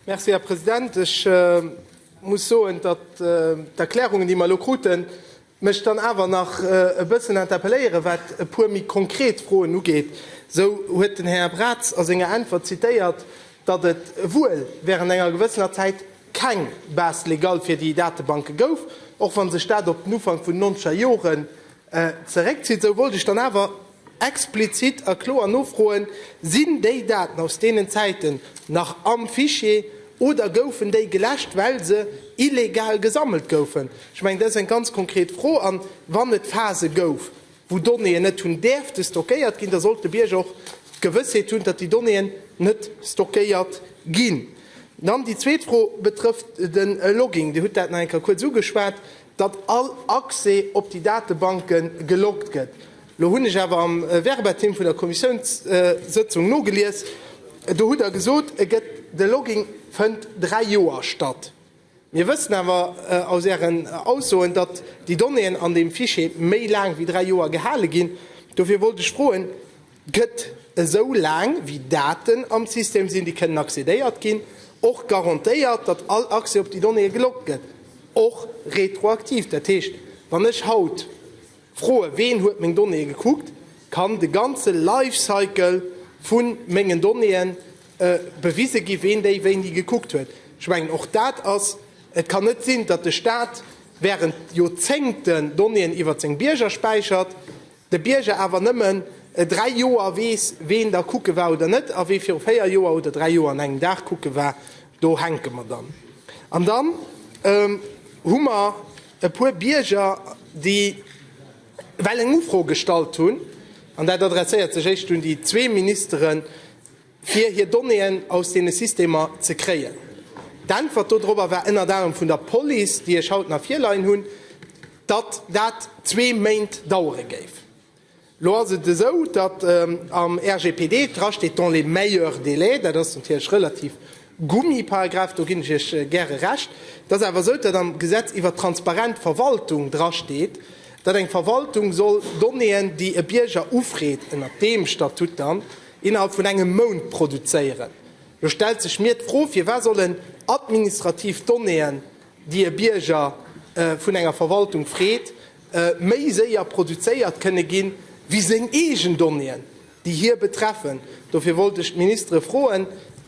Merci, Här President. Ech muss soen, datt d'Erklärungen, déi mer elo kruten, mech dann awer nach e bëssen interpelléieren, wat e puer méi konkret Froen ugeet. Esou huet den Här Braz a senger Äntwert zitéiert, datt et wuel während enger gewëssener Zäit keng Base légale fir déi Datebanke gouf, och wa sech dat op den Ufank vun den Noncher Joren zeréckzitt. Esou wollt ech dann awer Explizit a kloer Nofroen, Sinn déi Daten aus deenen Zäiten nach am Fichier oder goufen déi geläscht, well se illegal gesammelt goufen? Ech mengen, dat ass eng ganz konkret Fro. A wann et Phase gouf, wou Donnéeën net hunn däerfte stockéiert ginn, da sollt de Bierger och d'Gewëssheet hunn, datt déi Donnéeën net stockéiert ginn. Dann déi zweet Fro betrëfft de Logging. Dir hutt dat nach eng Kéier kuerz ugeschwat. datt all Accès op déi Datebanke geloggt gëtt. Elo hunn ech awer am Verbatim vun der Kommissiounssëtzung nogelies, do hutt Der gesot, e gëtt, de Logging fënnt dräi Joer statt. Mir wëssen awer aus Ären Aussoen, datt déi Donnéeën an deem Fichier méi laang wéi dräi Joer gehale ginn. Dofir wollt ech froen, gëtt esou laang wéi Daten am System sinn, déi kënnen accédéiert ginn, och garantéiert, datt all Accès op déi Donnéeë geloggt gëtt, och retroaktiv. Dat heescht, wann ech haut froe ween huet meng Donnéeë gekuckt, kann de ganze Life Cycle vu mengen Donnéeë bewise gi ween déi wéini gekuckt huet. Ech mengen, och dat ass, et kann net sinn, datt de Staat während Joerzéngten Donnéeën iwwert seng Bierger späichert, de Bierger awer nëmmen e dräi Joer weess, ween da kucke war oder net, a wee viru véier Joer oder dräi Joer an engem Dag kucke war, do hänke mer dann. An dann hu mer e puer Bierger, déi well eng Ufro gestallt hunn, an dat adresséiert sech éischt un déi zwee Ministeren, fir hir Donnéeën aus deene Systemer ze kréien. D'Äntwert dodrobber war ënnert anerem vun der Police, déi ech haut nach virleien hunn, datt dat zwee Méint dauere géif. Elo ass et esou, datt am RGPD drasteet dans les meilleurs délais. Dat ass natierlech relativ gummi, Paragraph, do ginn ech Iech gäre Recht. Et ass awer esou, datt am Gesetz iwwert transparent Verwaltung drasteet, datt eng Verwaltung soll Donnéeën, déi e Bierger ufreet, ënnert deem Statut dann, innerhalb vun engem Mount produzéieren. Lo stellt sech mir d'Fro, Firwat sollen administrativ Donnéeën, déi e Bierger vun enger Verwaltung freet, méi séier produzéiert kënne ginn, wéi seng eegen Donnéeën, déi hie betreffen? Dofir wollt ech d'Ministere froen,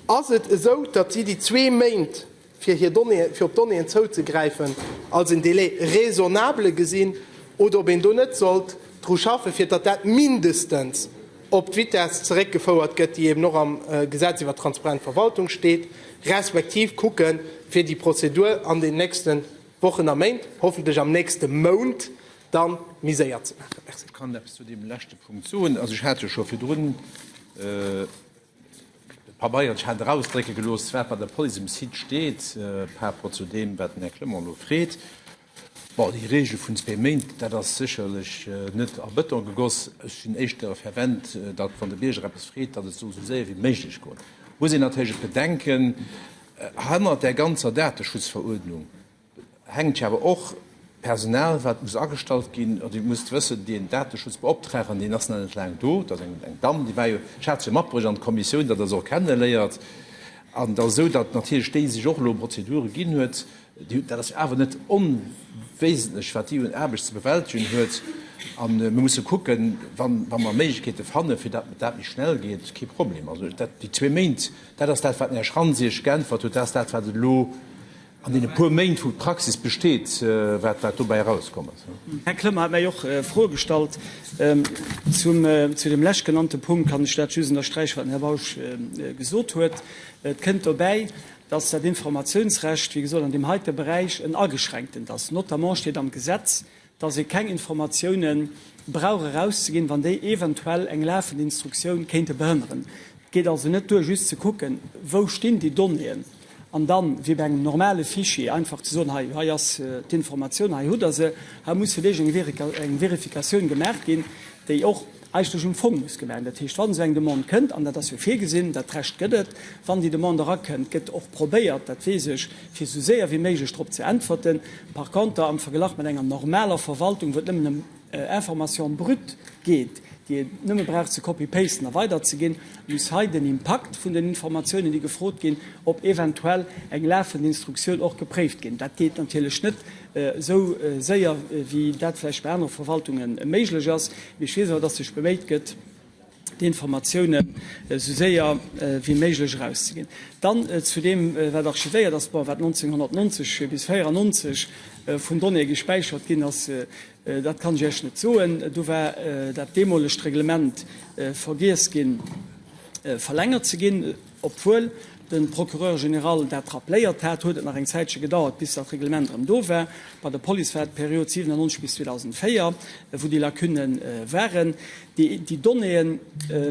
Ass et esou, datt si déi zwee Méint fir hir Donnéeë, fir op Donnéeën zouzegräifen, als en Délai raisonnable gesinn oder ob een do net sollt dru schaffen, fir datt dat mindestens op d'Vitess zeréckgefouert gëtt, déi eben och am Gesetz iwwert transparent Verwaltung steet, respektiv kucke fir déi Prozedur an den nächste Wochen a Méint, hoffentlech am nächste Mount, da méi séier ze maachen. Merci. Ech kann eppes zu deem leschte Punkt soen. Also ech hat jo scho virdrun, De Pabeiertsch hat erausdrécke gelooss, wat bei der Police um Site steet, par rapport zu deem, wat den Här Clement elo freet. Bon, déi Regel vun zwee Méint, dat ass sécherlech net a Bëton gegoss. Ech sinn éischter fervent, datt, wann de Bierger eppes freet, datt et soll esou séier wéi méiglech goen. Et muss een natierlech bedenken, Hannert där ganzer Dateschutzveruerdnung, hänkt jo awer och Personal, wat muss agestallt ginn. Dir musst wëssen, deen Dateschutzbeoptraagten, deen ass nach net laang do. Dat ass eng Damm, déi war jo, ech hat se jo matbruecht an d'Kommissioun, datt Der se och kenneléiert. An et ass esou, datt natierlech déi sech och elo un Prozedure ginn huet, déi, dat ass jo awer net onwesentlech, wat déi un Aarbecht ze bewältegen huet. A mir musse kucken, wa mer Méiglechkeete fanne fir datt dat méi schnell geet, kee Problem. Also dat, déi zwee Méint, dat ass dat, wat den Här Schrantz Iech geäntwert huet, dat ass dat, wat et elo An deene puer Méint, wou d'Praxis besteet, wat dobäi erauskomm ass. Här Klömmer hat mär och Froe gestallt. Zu deem leschtgenannte Punkt kann ech dat just ënnersträichen, wat den Här Bausch gesot huet. Et kënnt dobäi, dass dat Informationsrecht, wéi gesot, an deem heite Beräich en ageschränktent ass. Notamment steet am Gesetz, dass ee keng Informatioune brauch erauszeginn, wann déi eventuell eng lafend Instruktioun kéinte behënneren. Et geet also net duer, just ze kucken, wou stinn déi Donnéeën, an da wéi bei engem normale Fichier einfach ze soen, hei, hei ass d'Informatioun, hei hutt Der se. Hei muss vläicht eng Verifikatioun gemaach ginn, déi och eigentlech um Fong muss gemengen. Dat heescht, wann esou eng Demande kënnt, an dat ass jo virgesinn, dat Recht gëtt et, wann déi Demande erakënnt, gëtt och probéiert, dat weess ech, fir esou séier wéi méiglech drop ze äntwerten. Par konter am Verglach mat enger normaler Verwaltung, wou et nëmmen ëm Information brute geet, déi ee nëmme brauch ze copy-pasten a weiderzeginn, muss hei den Impakt vun den Informatiounen, déi gefrot ginn, op eventuell eng lafend Instruktioun och gepréift ginn. Dat geet natierlech net esou séier, wéi dat vläicht bei anere Verwaltunge méiglech ass. Mee ech weess awer, dass sech beméit gëtt, déi Informatiounen esou séier wéi méiglech erauszeginn. Dann zu deem, wat archivéiert ass, bon, wat 1990 bis 94 vun Donnéeë gespäichert ginn ass, dat kann ech Iech net soen. Do war dat deemolegt Reglement vergiess ginn, verlängert ze ginn. Obwuel de Procureur général dat rappléiert hat, huet et nach eng Zäitche gedauert, bis dat Reglement erëm do war. Bei der Police war d'Period 97 bis 2004, wou déi Lacunne waren. Déi Donnéeën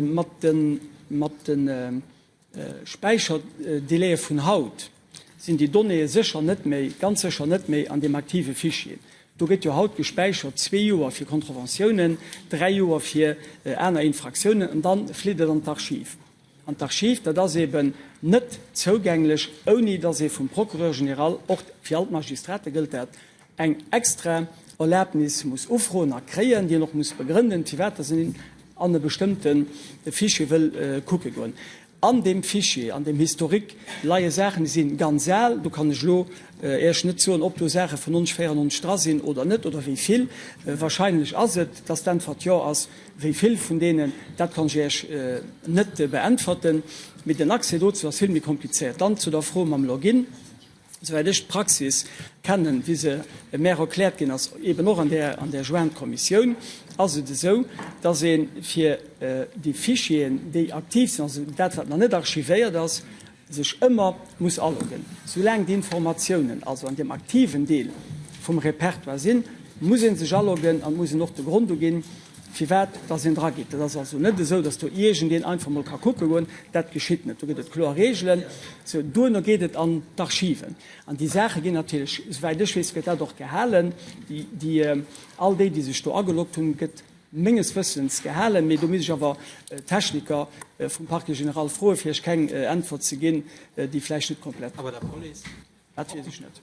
mat de Späicherdelaie vun haut sinn déi Donnéeë sécher net méi, ganz sécher net méi an deem aktive Fichier. Do gëtt jo haut gespäichert zwee Joer fir Contraventiounen, dräi Joer fir aner Infraktiounen an da flitt et an d'Archiv. An d'Archiv, dat ass eben net zougänglech, ouni datt ee vum Procureur général, och fir all d'Magistrate gëllt dat, eng extra Erlabnis muss ufroen a kréien, déi en och muss begrënnen, firwat datt en an e bestëmmte Fichier wëll kucke goen. An deem Fichier, an deem Historique leie Saachen, déi si ganz al. Do kann ech elo Iech net soen, ob do Saache vun 1994 dra sinn oder net, oder wéi vill. Warscheinlech ass et, datt d'Äntwert Jo ass. Wéi vill vun deenen, dat kann ech Iech net beäntwerten, mee den Accès dozou ass vill méi komplizéiert. Dann zu der Fro mam Login. Esouwäit ech d'Praxis kennen, wéi se mär erkläert ginn ass, eben och an där Jointe Kommissioun, ass et esou, dass ee fir déi Fichieren, déi aktiv sinn, also dat, wat nach net archivéiert ass, sech ëmmer muss aloggen. Soulaang d'Informatiounen also an deem aktiven Deel vum Repertoire sinn, muss ee sech aloggen an et muss een och de Grond uginn, firwat dass een dra geet. Et ass also net esou, dass do iergendeen einfach mol ka kucke goen. Dat geschitt net. Do gëtt et kloer Reegelen. Sou, duerno geet et an d'Archiven. An déi Saache ginn natierlech, souwäit ech weess, gëtt dat och gehalen, déi, all déi, déi sech do ageloggt hunn, gëtt, Menges Wëssens gehalen, mee do misst ech awer d'Techniker vum Parquet général froen, fir iech keng Äntwert ze ginn, déi vläicht net komplett ass. Dat weess ech net.